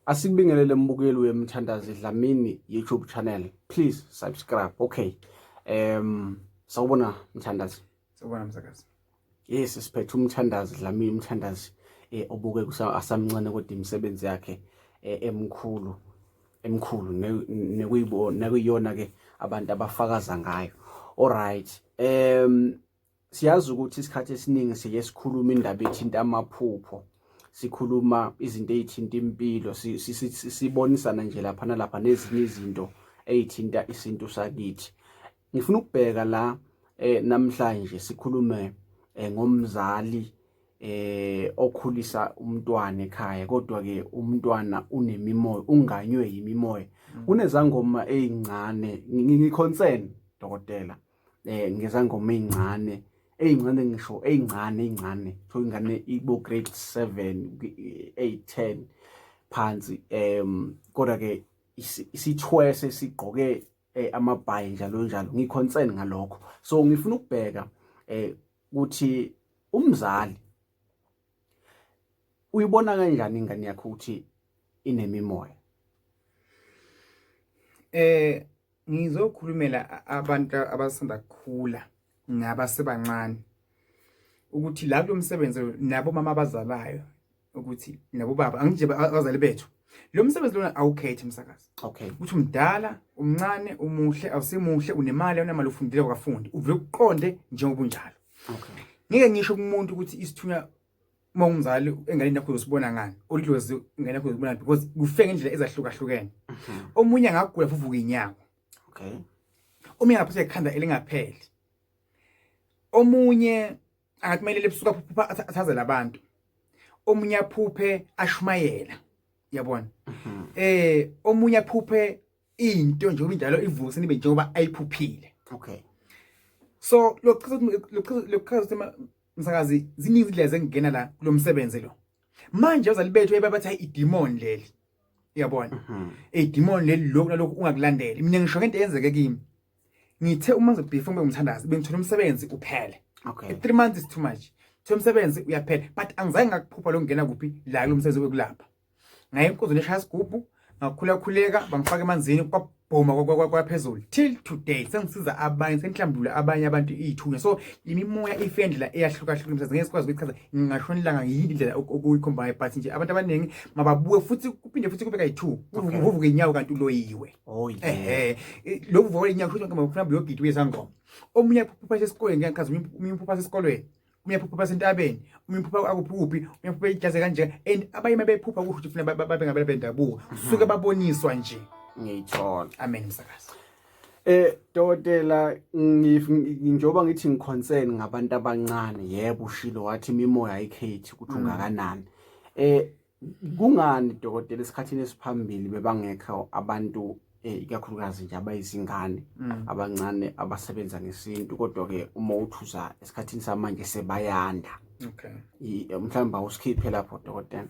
Asikubingelele mbukeli wemthandazi Dlamini YouTube channel. Please subscribe. Okay. Um sawubona mthandazi. Sawubona msakazi. Yes, siphethe umthandazi Dlamini umthandazi eh obuke kusamncane kodwa imisebenzi yakhe eh, emkhulu emkhulu nekuyibona nekuyona ke abantu abafakaza ngayo. All right. Um Siyazi ukuthi isikhathi esiningi siye sikhuluma indaba ethinta amaphupho sikhuluma izinto ezithinta impilo sibonisana nje lapha nalapha nezinye izinto ezithinta isintu sakithi ngifuna ukubheka la eh, namhlanje sikhulume eh, ngomzali eh okhulisa umntwana ekhaya kodwa ke umntwana unemimoya unganywe yimimoya mm. kunezangoma ezincane ngiconcern dokotela eh ngezangoma ezincane ezincane ngisho ezincane ezincane so ingane ibo grade 7 8 10 phansi em kodwa ke isithwese sigqoke eh, amabhayi njalo njalo ngiconcern ngalokho so ngifuna ukubheka eh ukuthi umzali uyibona kanjani ingane yakho ukuthi inemimoya eh ngizokhulumela abantu abasanda kukhula ngabasebancane ukuthi la kulo msebenzi nabo mama abazalayo ukuthi nabo baba angije abazali bethu lo msebenzi lona awukhethi msakazi okay ukuthi umdala umncane umuhle awusimuhle unemali awunamali ufundile wakafundi uvule ukuqonde njengoba unjalo okay ngeke ngisho kumuntu ukuthi isithunywa uma umzali enganeni yakho uzosibona ngani olidlozi ingane yakho uzibona because kufe ngendlela ezahlukahlukene mhm. omunye angagula fuvuka inyawo okay omunye angaphatha ikhanda elingapheli omunye angathumelele ebusuku phupha athaze labantu omunye aphuphe ashumayela yabona mhm. eh omunye aphuphe into nje ubinjalo ivuse nibe njengoba ayiphuphile okay so lokuchaza lokuchaza ukuthi Msakazi ziningi izindlela zengena la kulomsebenzi lo. Manje abazali bethu ebabathi hayi idemon leli. Uyabona? Mhm. Idemon leli lokho nalokho ungakulandeli. Mina ngisho ngento eyenzeke kimi. Ngithe uma ngizobhifa ngibe umthandazi bengithola umsebenzi uphele. Okay. 3 months is too much. Thola umsebenzi uyaphela but angizange ngakuphupha lokungena kuphi la kulomsebenzi wekulapha. ngaye inkuzi leshaya isigubhu ngakhulakhuleka bangifaka emanzini kwabhoma kwaphezulu till today sengisiza abanye sengihlambulula abanye abantu iyithunya so imimoya ifendlela eyahlukahlukene mhlawumbe ngeke sikwazi ukuyichaza ngingashona ilanga yini indlela okuyikhombayo but nje abantu abaningi mababuke futhi kuphinde futhi kube kayi-two uvuvuke inyawo kanti uloyiwe oh, ehe lokhu vuka inyawo kusho mhlawumbe uyogida uyesangoma omunye phupha sesikolweni ngiyachaza omunye phupha sesikolweni omunye aphupha basentabeni omunye uphupha akuphuphi omunye aphupha ijaze kanje and abanye mabephupha kusho ukuthi funa babe ngabela bendabuko suke mhm. baboniswa nje ngiyithola amen msakazi Eh dokotela ngijoba ngithi ngiconcern ngabantu abancane yebo ushilo wathi imimoya ayikhethi ukuthi mhm. ungakanani eh Kungani dokotela esikhathini esiphambili bebangekho abantu eh, ikakhulukazi nje abayizingane mm. abancane abasebenza ngesintu kodwa ke uma uthuza esikhathini samanje sebayanda okay eh, mhlawumbe awusikhiphe lapho dokotela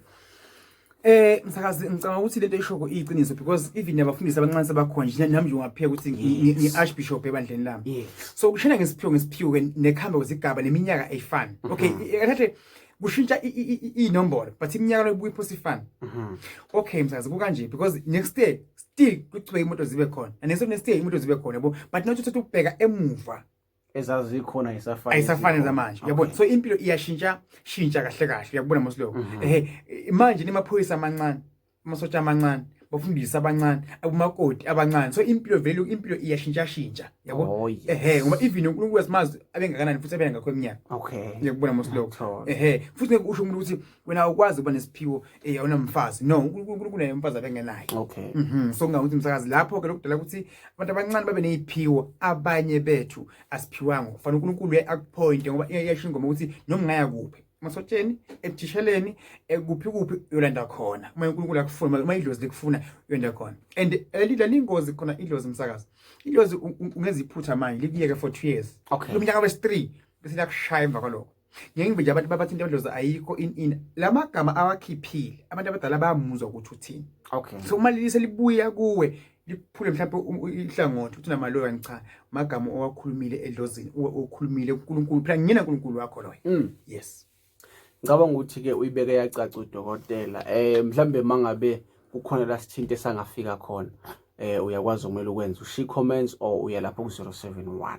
Eh msakazi ngicabanga ukuthi lento ishoko iyiqiniso because even abafundisi abancane sebakhona nje nami nje ungapheka ukuthi ngi archbishop ebandleni lami. So kushena ngesiphiwo ngesiphiwo nekhamba kwezigaba neminyaka eyifani. Mm-hmm. Okay, ekathe kushintsha iy'nombolo but iminyaka lokubuya iphosa ifana mhm. okay msazi kukanje because next day still kuchubeka imoto zibe khona and next next day imoto zibe khona yabo but not uthatha ukubheka emuva ezazikhona isafana isafana zamanje yabona so impilo iyashintsha shintsha kahle kahle uyakubona mosiloko mhm. ehe manje nimaphoyisa amancane amasotsha amancane bafundisa abancane akumakoti abancane so impilo vele impilo iyashintshashintsha yabo oh, yes. ehe ngoba even uNkulunkulu wesimazi abengakanani futhi abena ngakho eminyaka okay ngiyakubona mosiloko ehe futhi ngeke usho umuntu ukuthi wena ukwazi ukuba nesiphiwo eh awunamfazi no uNkulunkulu kunaye umfazi abengenayo okay mhm so ngingakuthi umsakazi lapho ke lokudala ukuthi abantu abancane babe neziphiwo abanye bethu asiphiwanga kufanele uNkulunkulu uye akuphointe ngoba iyashinga ngoba ukuthi noma ngaya kuphi masotsheni ebuthisheleni kuphi kuphi uyolanda khona uma uNkulunkulu akufuna uma idlozi likufuna uyolanda khona and elidla lingozi khona idlozi umsakazi idlozi ungenza iphutha manje likuyeke for 2 years okay. lomnyaka wesi 3 bese liyakushaya emva kwaloko ngengibe nje abantu babathi into yodlozi ayikho in in lamagama awakhiphile abantu abadala bayamuzwa ukuthi uthini okay so uma lilise libuya kuwe liphule mhlawumbe ihlangothi ukuthi namaloya ngicha magama owakhulumile edlozini okhulumile uNkulunkulu phela ngiyena uNkulunkulu wakho loyo mm. yes ngicabanga ukuthi ke uyibeke yacaca udokotela eh mhlambe mangabe kukhona la sithinte sangafika khona eh uyakwazi ukumele ukwenza ushi comments or uya lapho ku 071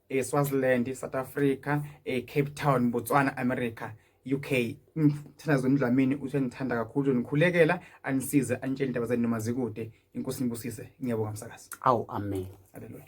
eSwaziland, eh, South Africa, eCape eh, Town, Botswana, America, UK. Mthandazo Ndlamini uthi ngithanda kakhulu nikhulekela anisize anitshele indaba zenu noma zikude. Inkosi nibusise. Ngiyabonga msakazi. Awu amen. Hallelujah.